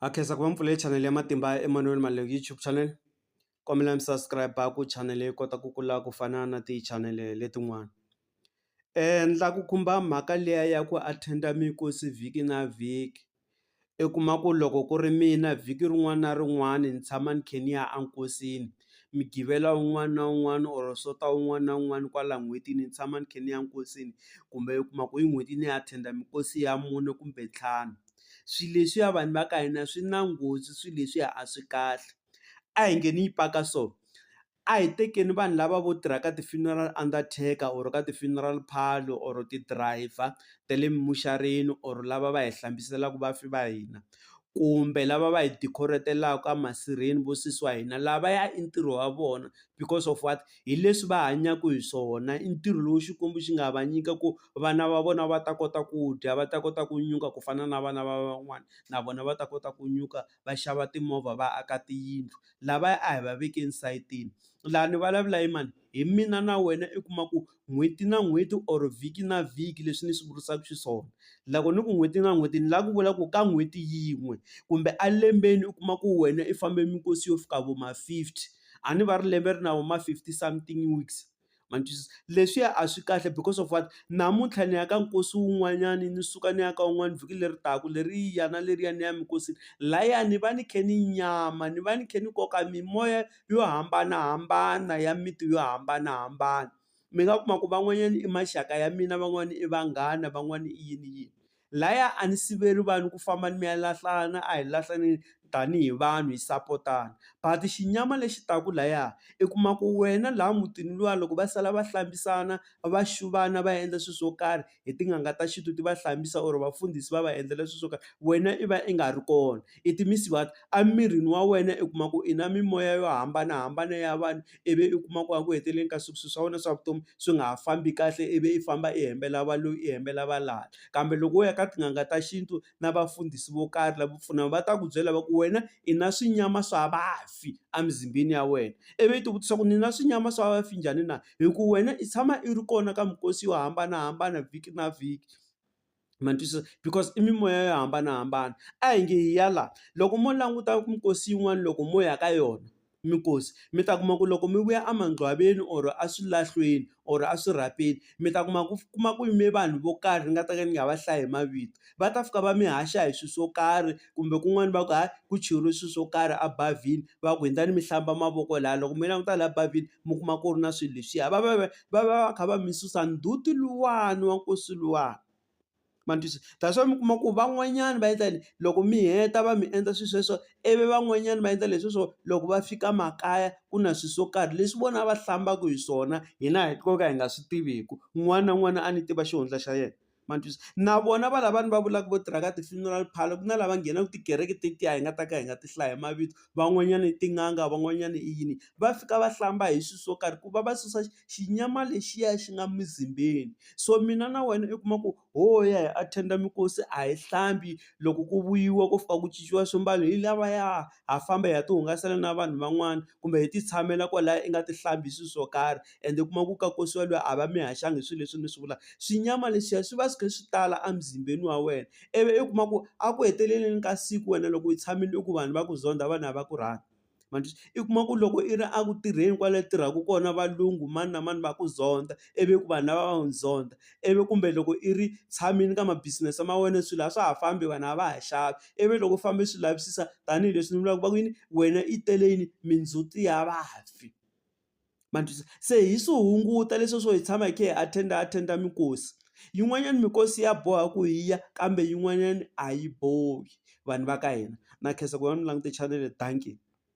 Ha khensa ku va mi pfulele chanele ya Matimba Emanuel Maleku YouTube channel kombela mi subscribe ku chanele yi kota ku kula ku fana na tichanele letin'wana endla ku khumba mhaka liya ya ku attend-a mikosi vhiki na vhiki i kuma ku loko ku ri mina vhiki rin'wana na rin'wana ni tshama ni khe ni ya enkosini migqivela wun'wana na wun'wana or sonta wun'wana na wun'wana kwala n'hwetini ni tshama ni khe ni ya nkosini kumbe u kuma ku hi n'hweti ni attend-a mikosi ya mune kumbe ntlhanu. swilo leswiya vanhu va ka hina swi na nghozi swilo leswiya a swi kahle a hi nge ni yi paka so a hi tekeni vanhu lava vo tirha ka ti-funeral undertaker or ka ti-funeral parlour or ti-driver ta le muxareni or lava va hi hlambiselaku vafi va hina kumbe lava va hi decorate-laku a masirheni vo sesi wa hina lavaya i ntirho wa vona because of what hi leswi va hanyaku hi swona i ntirho lowu Xikwembu xi nga va nyika ku. vana va vona va ta kota ku dya va ta kota ku nyuka ku fana na vana va van'wana na vona va ta kota ku nyuka va xava timovha va aka tiyindlu lavaya a hi va veke esayitini laha ni vulavula hi mani hi mina na wena i kuma ku n'hweti na n'hweti or vhiki na vhiki leswi ni swi vurisaka xiswona loko ni ku n'hweti na n'hweti ni lava ku vula ku ka n'hweti yin'we kumbe a lembeni u kuma ku wena i fambe minkosi yo fika vo ma fifty a ni va ri lembe ri na vo ma fifty something weeks. ma ni twisisa. Leswiya a swi kahle because of what namuntlha ni ya ka nkosi wun'wanyani ni suka ni ya ka wun'wani vhiki leri taka leriya na leriya ni ya minkosini, lahaya ni va ni khe ni nyama ni va ni khe ni koka mimoya yo hambanahambana ya miti yo hambanahambana. Mi nga kuma ku van'wanyani i maxaka ya mina van'wani i vanghana van'wani i yini yini. Laya a ni siveli vanhu ku famba ni mi ya lahlana a hi lahlaneni tanihi vanhu hi sapotana but xinyama lexi taku laya i kuma ku wena laha mutini luwa loko va sala va hlambisana va xuvana va endla swi swo karhi hi tin'anga ta xintu ti va hlambisa or vafundhisi va va endlela swi swo karhi wena i va i nga ri kona. I ti-mist water. Emirini wa wena u kuma ku i na mimoya yo hambanahambana ya vanhu, ivi u kuma ku eku heteleleni ka siku swilo swa wena swa vutomi swi nga ha fambi kahle ivi i famba i hembela va loyi i hembela va lala. Kambe loko wo ya ka tin'anga ta xintu na vafundhisi vo karhi lavo pfuna, va ta ku byela va ku wena i na swinyama swa vafi emizimbeni ya wena. Ivi i ti vutisa ku ni na swinyama swa vafi njhani na? Hi ku wena i tshama i ri kona ka minkosi yo hambanahambana vhiki na vhiki. ma ni twisisa because i mimoya yo hambanahambana a hi nge hi ya la loko mo languta minkosi yin'wana loko mo ya ka yona minkosi mi ta kuma ku loko mi vuya a mangcwaveni or a swilahlweni or a swirhapeni mi ta kuma ku kuma ku yime vanhu vo karhi ni nga ta ka ni nga va hlayi hi mavito va ta fika va mi haxa hi swilo swo karhi kumbe kun'wana va ku hayi ku cheriwe swilo swo karhi a bavhini va ku hundzani mi hlamba mavoko laya loko mi languta laha bavhini mi kuma ku ri na swilo leswiya va va va. va va va kha va mi susa ndzhuti luwani wa nkosi luwani ma ni twisisa that's why mi kuma ku van'wanyana va endla yini loko mi heta va mi endla swi sweswo ivi van'wanyana va endla leswi swo loko va fika makaya ku na swi swo karhi leswi vona va hlambaka hi swona hina hi ko ka hi nga swi tiviku un'wana na un'wana a ni tiva xihundla xa yena. ma ni twisisa na vona va lavani va vulaka vo tirha ka ti-funeral parlour ku na lava nghenaka tikereke tetiya hi nga ta ka hi nga ti hlayi hi mavito van'wanyana i tin'anga van'wanyana i yini va fika va hlamba hi swilo swo karhi ku va va susa xinyama lexiya xi nga mizimbeni so mina na wena u kuma ku ho ya hi attend-a minkosi a hi hlambi loko ku vuyiwa ko fika ku cinciwa swimbalo hi lavaya ha famba hi ya ti hungasela na vanhu van'wana kumbe hi ti tshamela kwalaya i nga ti hlambi hi swilo swo karhi. ende u kuma ku ka kosiwa lwiya a va mi haxangi hi swilo leswi mi swi vulaka, xinyama lexiya swi va swi kha swi tala emuzimbeni wa wena ivi u kuma ku a ku heteleleni ka siku wena loko u tshamile u ku vanhu va ku zondha vanhu a va ku rhandzi, ma ni twa i kuma ku loko i ri eku tirheni kwale u tirhaka kona valungu mani na mani va ku zondha ivi ku vanhu lava va ku zondha, ivi kumbe loko i ri tshamile ka ma business ma wena swilo a swa ha fambi vanhu a va ha xavi ivi loko u famba u swi lavisisa tanihileswi ni vulaka ku va ku yini wena i tele yini mindzhuti ya vafi. ma ni twisisa se hi swi hunguta leswiya swo hi tshama hi kha hi attend-a attend-a minkosi yin'wanyani minkosi ya boha ku hi ya kambe yin'wanyani a yi bohi vanhu va ka hina na khensa ku va mi langute chanele dankie.